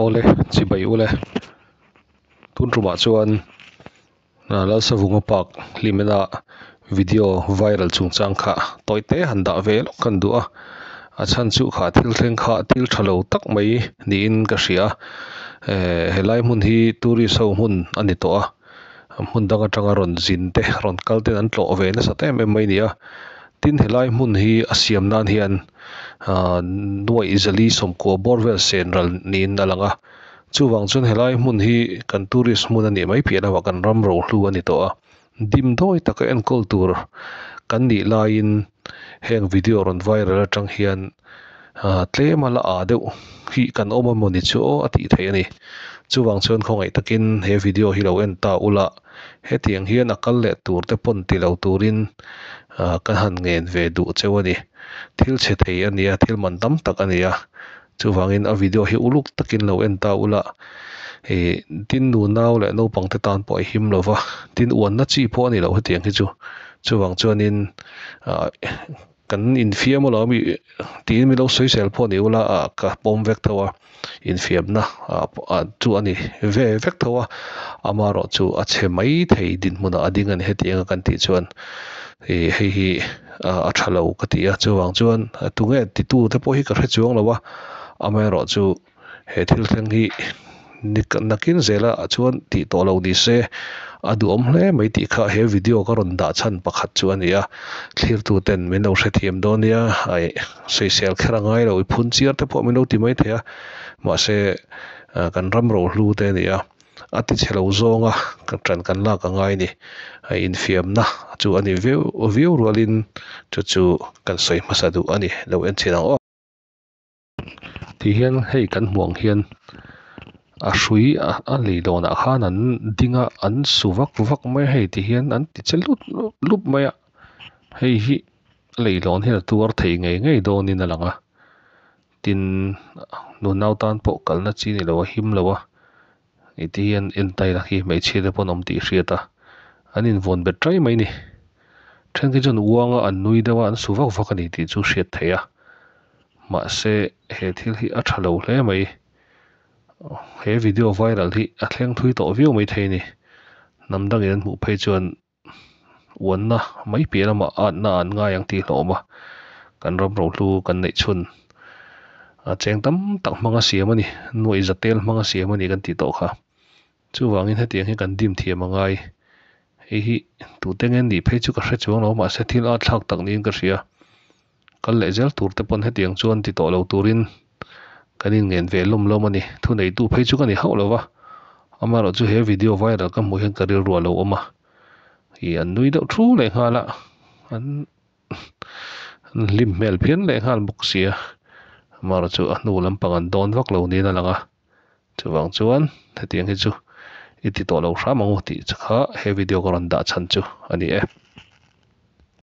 Awle chibai u le. Tun tumah chuan Lalsavunga park hlim ina video viral chung chang kha tawi te han dah ve lawk ka duh a, a chhan chu kha thil thleng kha thil tha lo tak mai niin ka hria. Eeh helai hmun hi tourist ho hmun a ni tawh a, hmun dang atanga rawn zin te rawn kal ten an tlawh ve nasat em em mai nia. Tin, helai hmun hi a siam nan hian nuaih zali sawmkuah bawr vel sen ral niin a lang a. Chuvang chuan helai hmun hi kan tourist hmun a nih mai piah lamah kan ram rohlu a ni tawh a. Dim dawi taka enkawl tur kan nih laiin heng video rawn viral atang hian, tlema la â deuh hi kan awm emaw ni chu a tih theih a ni. Chuvang chuan khawngaih takin he video hi lo en ta ula, hetiang hian a kal leh tur te pawn ti lo turin ka han ngen ve duh cheu a ni. Thil chhe thei a nia, thil man tam tak a nia. Chuvangin a video hi uluk takin lo en ta ula, tin nu nau leh naupang te tân pawh a him lo va, tin uanna chi pawh a ni lo hetiang hi chu. Chuvang chuanin. Kan infiam a lo ami tiin min lo soisel pawh a ni ula ah ka pawm vek tho a, infiamna ah chu a ni ve vek tho a, ama erawh chu a chhe maithei dinhmunah a ding a ni heti anga kan tih chuan ih hei hi a tha lo ka ti a, chuvang chuan tunge titute pawh hi ka hre chuang lo a, ama erawh chu. he thil thleng hi ni nakin zela chuan tih tawh lo ni se a duhawm hle mai tih kha he video ka rawn dah chhan pakhat chu a ni a, thlirtu ten min lo hrethiam dawn nia ai soisel kher a ngai lo i phun chiar te pawh min lo ti mai thei a mahse kan ram rohlu te a ni a a ti chhe lo zawng a ka tan kan lak a ngai ni ai infiamna chu a ni viau viau rual in chu chu kan sawi hmasa duh a ni lo en chin ang aw. tih hian hei kan hmuh ang hian a hrui a lei dawn ah khan an ding a an su vak vak mai a hei tih hian an ti che lup lup lup mai a hei hi a lei dawn hian a tuar thei ngei ngei dawn in a lang a tin nunau tan pawh kalna chi ni lo a him lo a. I ti hian en taila khi hmeichhia te pawn awm tih hriat a, an invawn bet ṭai mai ni. Ṭhenkhi chuan uanga an nui deuh a, an su vak vak a ni tih chu hriat theih a. Mahse, he thil hi a ṭha lo hle mai. He video viral hi a thleng thui tawh viau mai thei a ni. Hnam dangin an hmuh phei chuan. uanna mai piah lamah atna an ngai ang tih a hlawm a, kan ram rohlu kan neih chhun a cheng tam tak hmanga siam a ni, nuaih zatel hmanga siam a ni kan tih tawh kha. Chuvangin hetiang hi kan dim thiam a ngai. Hei hi tute ngen nih phei chu ka hre chuang lo mahse thil ahthlak tak niin ka hria. Kan leh zel tur te pawn hetiang chuan ti tawh lo turin kan inngen ve lawm lawm a ni. Thu neitu phei chu ka ni hauh lova, amaherawh chu he video viral ka hmuh hian ka rilrua lo awm a, ih an nui deuh thu leh nghal a, an an hlim hmel phian leh nghal bawk sia, amaherawh chu a hnu lampang an dawn vak lo niin a lang a, chuvang chuan hetiang hi chu i ti tawh lo hram ang u tih kha he video ka rawn dah chhan chu a ni e.